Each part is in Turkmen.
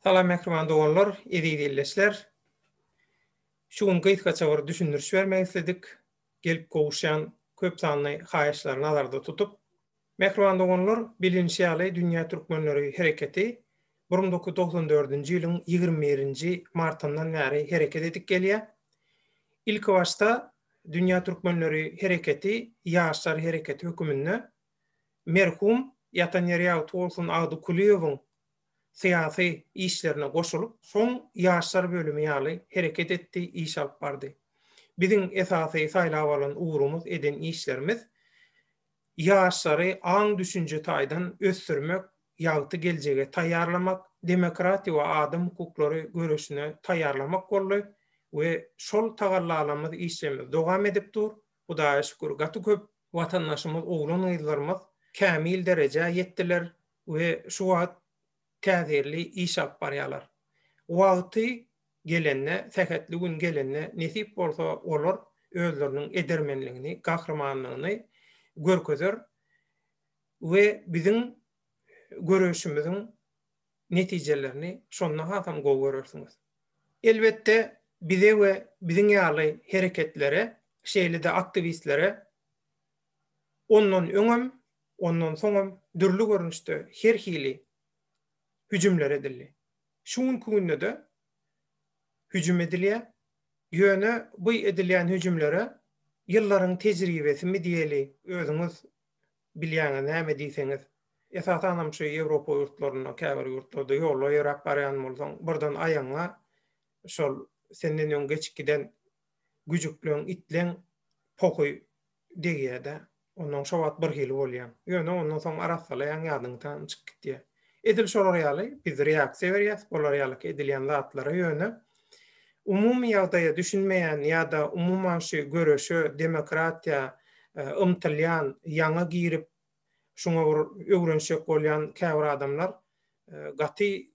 Salam mähriban doganlar, eziz ildeşler. Şu gün gysgaça bir düşündiriş bermek isledik. Gelip gowuşýan köp sanly haýyşlary nazarda tutup. Mähriban doganlar, bilinişi ýaly Dünýä Türkmenleri hereketi bir müň dokuz ýüz togsan dördünji ýylyň ýigrimi birinji martyndan bäri hereket edip gelýär. Ilkibaşda Dünýä Türkmenleri hereketi ýaşlar hereketi höküminde merhum, ýatan ýeri ýagty bolsun, Agdy Kulyýewiň syýasy işlerine goşulyp, soň ýaşlar bölümi ýaly hereket etdi, iş alyp bardy. Biziň esasy saýlap alan ugrumyz, eden işlerimiz ýaşlary aň-düşünje taýdan ösdürmek, ýagty geljege taýýarlamak, demokratiýa we adam hukuklary göreşine taýýarlamak boldy we şol tagallalarymyz, işlerimiz dowam edip dur. Hudaýa şükür, gaty köp watandaşymyz, oglan-gyzlarymyz kämil derejä ýetdiler we şu wagt täsirli iş alyp barýarlar. Wagty gelende, sähetli gün gelende nesip bolsa olar özleriniň edermenligini, gahrymanlygyny görkezer we biziň göreşimiziň netijelerini şonda hasam gowy görersiňiz. Elbetde bize we biziň ýaly hereketlere, şeýle-de aktiwistlere ondan öňem, ondan soňam dürli görnüşde her hili hüjümler edildi. Şu günki günde-de hüjüm edilýär. Ýöne bu edilýän hüjümlere ýyllaryň tejribesimi diýeli, özüňiz bilýäňiz näme diýseňiz. Esasanam şu Ýewropa ýurtlarynda, käbir ýurtlarda ýolda ýöräp barýan bolsaň, birden aýagyňa şol senden öň geçip giden güjükleň, itleň pohy degýär-de, ondan şo wagt birhili bolýaň. Ýöne ondan soň arassalaýaň, ýadyňy tan çykyp gitýär. Edil şolar ýaly, biz reaksiýa berýäs bular ýalyky edilýän zatlara, ýöne umumy ýagdaýa düşünmeýän ýa-da umuman şu göreşe, demokratiýa ymtylýan, ýaňy girip, şuňa bir öwrenişjek bolýan käbir adamlar gaty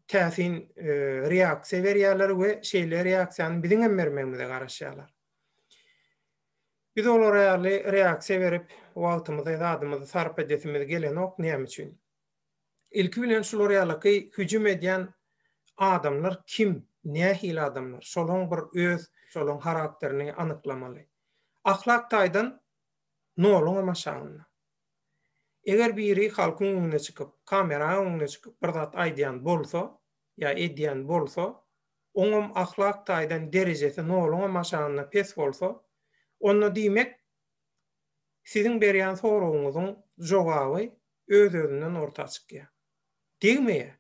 täsin reaksiýa berýärler we şeýle reaksiýany biziň hem bermegimize garaşýarlar. Biz olara ýaly reaksiýa berip, wagtymyzy, zadymyzy sarp edesimiz gelenok, näme üçin? Ilki bilen şular ýalyky hüjüm edýän adamlar kim, nähili adamlar? Şolaryň bir öz, şolaryň harakterini anyklamaly. Ahlak taýdan noluň hem aşagynda. Eger biri halkyň öňüne çykyp, kameraň öňüne çykyp bir zat aýdýan bolsa ýa edýän bolsa, oňam ahlak taýdan derejesi noluňam aşagynda pes bolsa, onda diýmek, siziň berýän soragyňyzyň jogaby öz-özünden orta çykýar. Degmeýär.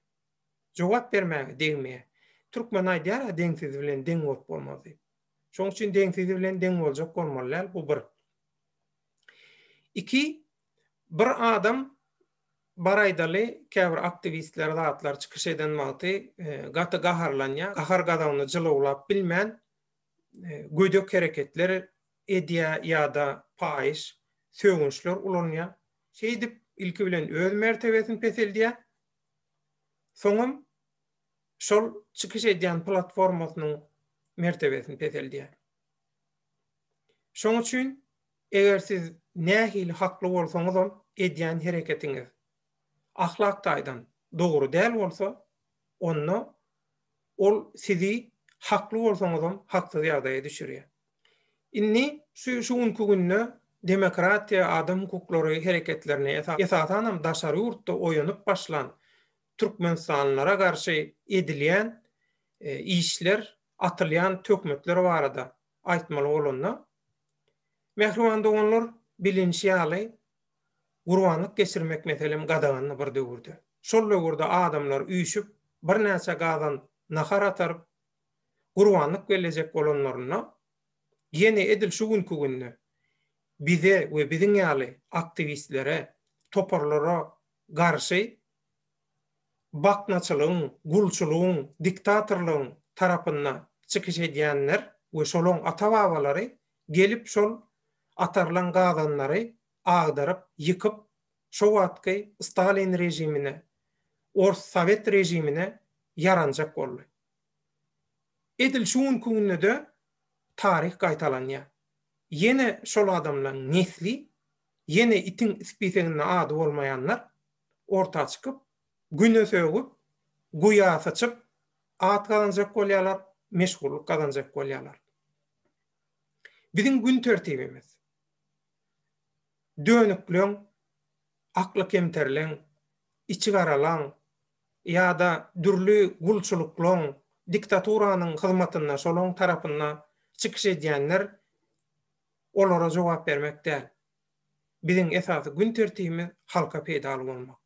Jogap bermäge degmeýär. Türkmen aýdýar-a deňsizi bilen deň bolup bolmaz diýip. Şonuň üçin deňsizi bilen deň boljak bolmaly däl, bu bir. Iki, bir adam bar aýdaly, käbir aktiwistler zatlar çykyş eden wagty gaty gaharlanýar, gahar-gazabyny jylawlap bilmän gödek hereketler edýär ýa-da paýyş, sögünçler ulanýar. Şeýdip, ilki bilen öz mertebesini peseldýär, soňam şol çykyş edýän platformasynyň mertebesini peseldýär. Şoň üçin, eger siz nähili hakly bolsaňyzam, edýän hereketiňiz ahlak taýdan dogry däl bolsa, onda ol sizi hakly bolsaňyzam haksyz ýagdaýa düşürýär. Indi şu şu günki günde demokratiýa, adam hukuklary hereketlerine esasanam daşary ýurtda oýanyp başlan türkmenistanlylara garşy edilýän işler atylýan töhmetler barada aýtmaly bolanda, mähriban doganlar, bilinişi ýaly, gurbanlyk geçirmek meselem gadagandy bir döwürde. Şol döwürde adamlar üýşüp, birnäçe gazan nahar ataryp, gurbanlyk bellejek bolanlarynda, ýene edil şu günki günde bize we biziň ýaly aktiwistlere, toparlara garşy baknaçylygyň, gulçulygyň, diktatorlygyň tarapynda çykyş edýänler we şolaň ata-babalary gelip şol atarlan gazanlary agdaryp, ýykyp, şo wagtky Stalin režimine, ors sowet režimine ýaranjak boldy. Edil şu günki günde-de taryh gaýtalanýar. Ýene şol adamlaň nesli, ýene itiň ispiseginde ady bolmaýanlar orta çykyp, Güne sögüp, guýa syçyp, at gazanjak bolýarlar, meşhurlyk gazanjak bolýarlar. Biziň gün tertibimiz, dönükleň, akly kemterleň, içigaralaň ýa-da dürli gulçulyklaň, diktaturanyň hyzmatynda, şolaň tarapynda çykyş edýänler olara jogap bermek däl. Biziň esasy gün tertibimiz halka peýdaly bolmak.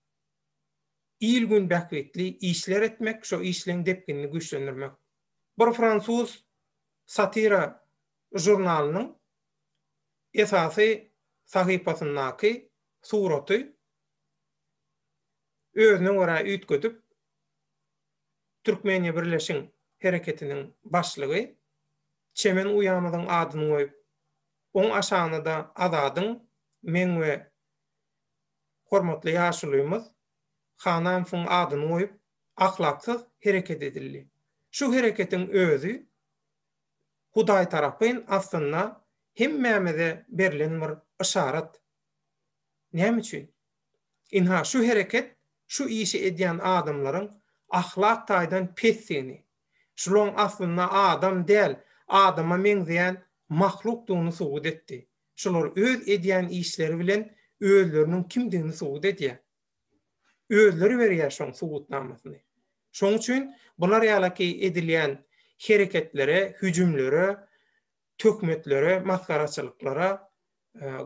Il-gün bähbitli işler etmek, şo işleň depginini güýçlendirmek. Bir fransuz satira žurnalynyň esasy sahypasyndaky suraty özüne görä üýtgedip, Türkmeniýa birleşiň hereketiniň başlygy, çemen uýamyzyň adyny goýup, Oň aşagynda-da Azadyň, meň we hormatly ýaşulymyz Hananowyň adyny goýup, ahlaksyz hereket edildi. Şu hereketiň özi Hudaý tarapyn aslynda hemmämize berlen bir yşarat. Näme üçin? Ynha, şu hereket şu işi edýän adamlaryň ahlak taýdan pesdigini, Şulyň aslynda adam däl, adama meňzeýän mahlukdygyny subut etdi. Şular öz edýän işleri bilen özleriniň kimdigini subut edýär. Özleri berýär şoň subutnamasyny. Şoň üçin bular ýalaky edilýän hereketlere, hüjümlere, töhmetlere, masgaraçylyklara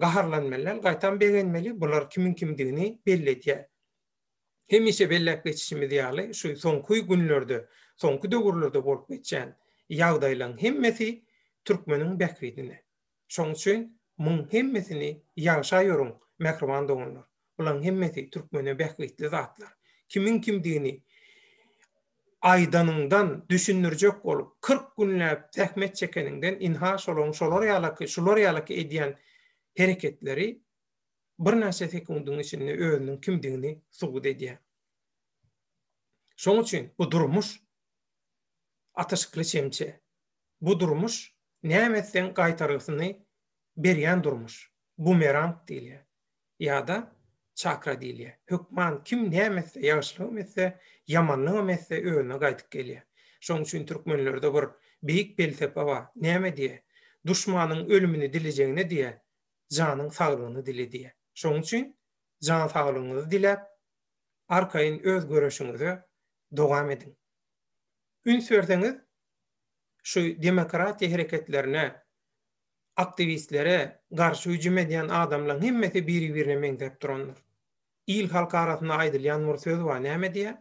gaharlanmaly däl, gaýtam begenmeli, bular kimiň kimdigini belli edýär. hemişe belläp geçişimiz ýaly, şu soňky günlerde, soňky döwürlerde bolup geçýän ýagdaýlaryň hemmesi türkmeniň bähbidine. Şoň üçin muň hemmesini ýagşa ýörüň, mähriban doganlar. Bularyň hemmesi türkmene bähbitli zatlar. Kimiň kimdigini aýdanyňdan, düşündirjek bolup, kyrk günläp zähmet çekeniňden, ynha, şolaryň şolar ýalaky, şular ýalaky edýän hereketleri birnäçe sekundyň içinde özüniň kimdigini subut edýär. Şoň üçin bu durmuş atyşykly çemçe. Bu durmuş näme etseň gaýtargysyny berýän durmuş. Bumerang diýilýär. Ýa-da çakra diýilýär. Hökman kim näme etse, ýagşylygam etse, ýamanlygam etse özüne gaýdyp gelýär. Şoň üçin türkmenlerde bir beýik pelsepe bar. Näme diýýär? Duşmanyň ölümini dilejegine diýýär, janyň saglygyny dile diýýär. Şonuň üçin jan saglygyňyzy diläp, arkaýyn öz göreşiňize dowam ediň. Üns berseňiz, şu demokratiýa hereketlerine, aktiwistlere garşy hüjüm edýän adamlaryň hemmesi biri-birine meňzäp durandyr. Il-halk arasynda aýdylýan bir söz bar, näme diýýär?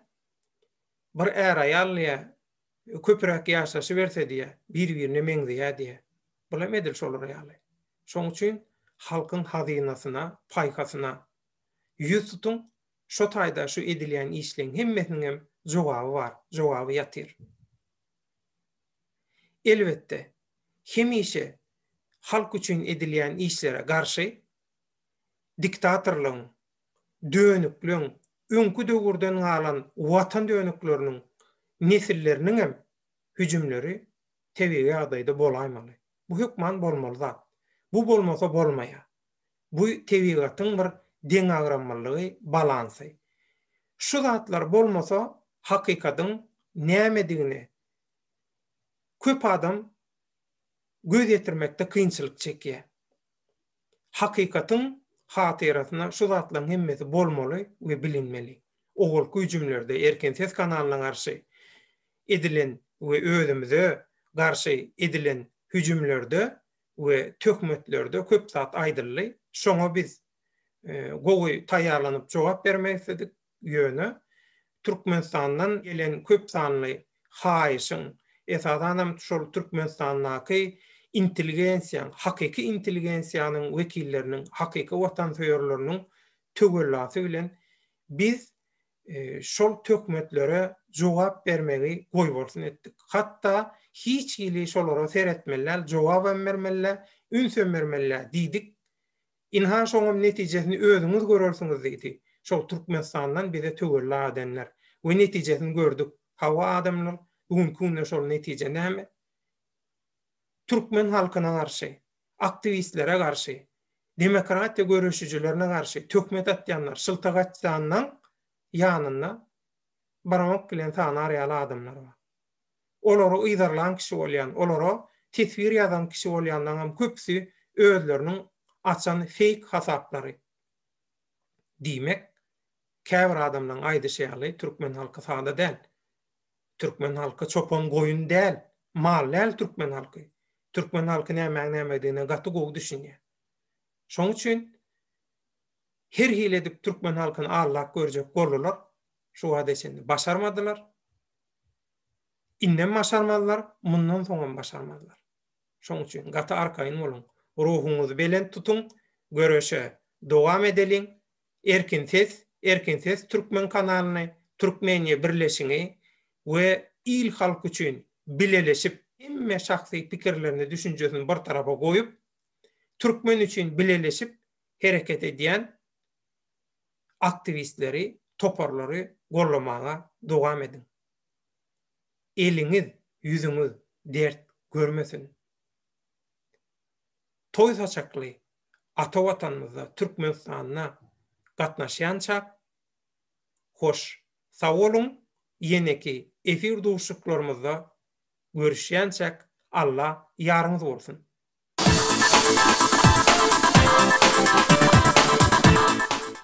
Bir är-aýal diýýär, köpüräk ýaşaşyberse diýýä, bir-birine meňzeýä diýýä. Bulam edil şolar ýaly. Şoň üçin halkyň hazynasyna, paýhasyna ýüz tutuň, şo taýda şu edilýän işleň hemmesiniňem jogaby bar, jogaby ýatyr. Elbetde, hemişe halk üçin edilýän işlere garşy diktatorlygyň, dönükleň, öňki döwürden galan watan dönükleriniň nesilleriniňem hüjümleri tebigy ýagdaýda bolaýmaly. Bu hökman bolmaly zat. Bu bolmasa bolmaýar. Bu tebigatyň bir deňagramlylygy, balansy. Şu zatlar bolmasa hakykatyň nämedigine köp adam göz ýetirmekde kynçylyk çekýär. Hakykatyň hatyrasyna şu zatlaryň hemmesi bolmaly we bilinmeli. Owalky hüjümlerde erkin ses kanalyna garşy edilen we özümize garşy edilen hüjümlerde we töhmetlerde köp zat aýdyldy. Şoňa biz gowy taýýarlanyp jogap bermek isledik. ýöne Türkmenistandan gelen köp sanly haýyşyň, esasan hem şol Türkmenistandaky intelligensiýaň, hakyky intelligensiýanyň wekilleriniň, hakyky watansöýerleriniň töwellasy bilen biz şol töhmetlere jogap bermegi goýbolsun etdik. Hatda hiç hili şolara seretmeli däl, jogabam bermeli däl, ünsem bermeli däl diýdik. Ynha şoňam netijesini özüňiz görersiňiz diýdi. Şol Türkmenistandan bize töwella adenler. We netijesini gördük. Hawa adamlar, bu günki günde şol netije näme? Türkmen halkyna garşy, aktiwistlere garşy, demokratiýa göreşijilerine garşy töhmet atýanlar, şyltagaçdanlaň ýanynda barmak bilen sanar ýaly adamlar bar. olary yzarlan kişi bolýan, olara teswir ýazan kişi bolýanlaryňam köpüsi özleriniň açan feýk hasaplary. Diýmek, käbir adamlaryň aýdyşy ýaly, türkmen halky sada däl. Türkmen halky çopan goýun däl, mal däl türkmen halky. Türkmen halky nämäň nämedigine gaty gowy düşünýär. Şoň üçin her hili edip türkmen halkyny aldap görjek boldular, şu wagta çenli başarmadylar. Indem başarmazlar, mundan soňam başarmazlar. Şoň üçin gaty arkaýyn boluň, ruhuňyzy belent tutuň, göreşe dowam edeliň. Erkin ses, Erkin ses türkmen kanalyny, Türkmenia birleşiňi we il-halk üçin bileleşip, hemme şahsy pikirlerini, düşünjesini bir tarapa goýup, türkmen üçin bileleşip hereket edýän aktiwistleri, toparlary gollamaga dowam ediň. Eliňiz, ýüzüňiz dert görmesin. Toý saçakly ata Watanymyzda, Türkmenistanda gatnaşýançak hoş. Sag boluň, ýeneki efir duşuşyklarymyzda görüşýänçäk Alla ýaryňyz bolsun!